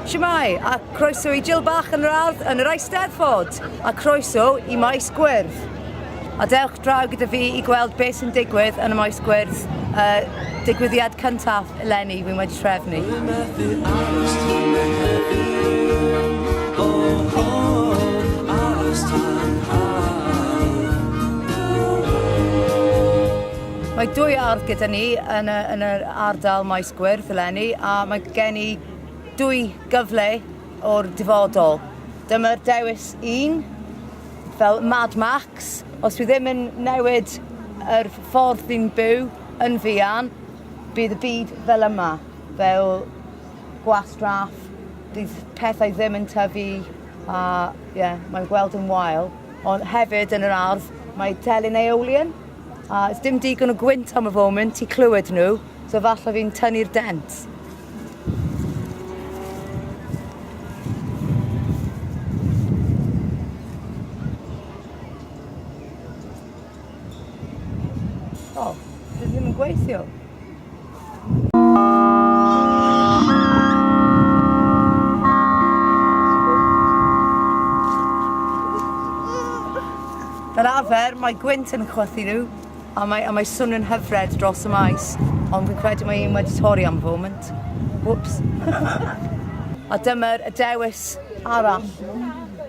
Shwmae, a croeso i Jill Bach yn yr Ardd yn yr Eisteddfod, a croeso i Maes Gwyrdd. A dewch draw gyda fi i gweld beth sy'n digwydd yn y Maes Gwyrdd, uh, digwyddiad cyntaf Eleni, wi wedi trefnu. Dwi methu aros tan Mehefin, oh oh, aros tan haf. Mae dwy ardd gyda ni yn y, yn yr ardal Maes Gwyrdd eleni, a mae gen i dwy gyfle o'r dyfodol. Dyma'r dewis un, fel Mad Max, os dwi ddim yn newid yr ffordd dwi'n byw yn fuan, bydd y byd fel yma, fel gwastraff, bydd pethau ddim yn tyfu a ie, yeah, mae'n gweld yn wael. Ond hefyd yn yr ardd mae telyn aeolian a ys dim digon o gwynt am y foment i clywed nhw, so falle fi'n tynnu'r dent. O, oh, dwi ddim yn gweithio. Fel arfer, mae gwynt yn chwythu nhw, a mae, a mae swnio'n hyfred dros y maes, ond fi'n credu mae un wedi torri am foment. Whoops. a dyma'r y dewis arall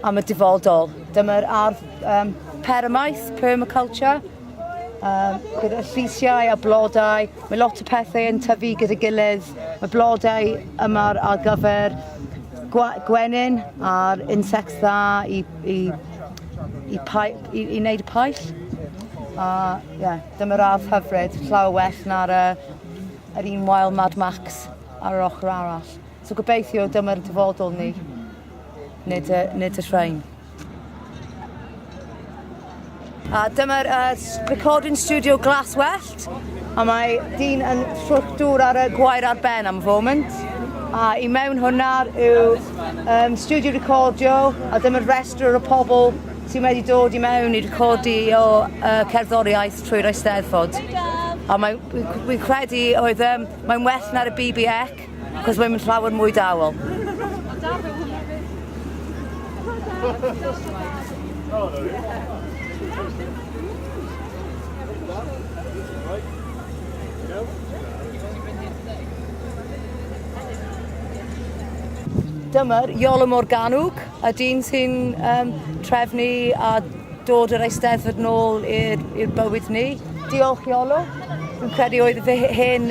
am y dyfodol. Dyma'r ardd Um, permaith, permaculture, um, gyda llisiau a blodau. Mae lot o pethau yn tyfu gyda gilydd. Mae blodau yma ar gyfer gwenyn a'r insects dda i, i, i, pai, i, i wneud y paill. A yeah, dyma radd hyfryd, llawer well na'r uh, yr un Wild Mad Max ar yr ochr arall. So gobeithio dyma'r dyfodol ni, nid y, nid y rhain. A dyma'r uh, recording studio glas wellt. A mae dyn yn ffrwctwr ar y gwair ar ben am y foment. A i mewn hwnna yw um, studio recordio a dyma'r restr o pobl sy'n wedi dod i mewn i recordi o uh, cerddoriaeth trwy'r Eisteddfod. A mae'n credu oedd um, mae'n well na'r y BBX. Cos mae'n mynd llawer mwy dawel. Dyma'r Iolo Morganwg, a dyn sy'n um, trefnu a dod yr eisteddfod nôl i'r bywyd ni. Diolch Iolo. Dwi'n credu oedd fy hen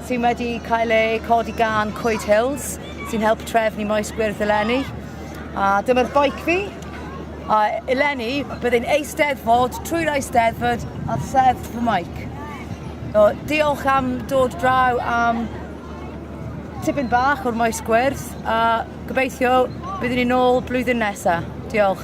sydd wedi cael eu codi gan Coed Hills, sy'n help trefnu maes gwyrdd eleni. A dyma'r bike fi. A eleni, byddai'n eisteddfod trwy'r eisteddfod a sedd fy mike. So, diolch am dod draw am tipyn bach o'r maes gwyrdd a gobeithio byddwn ni'n ôl blwyddyn nesaf. Diolch.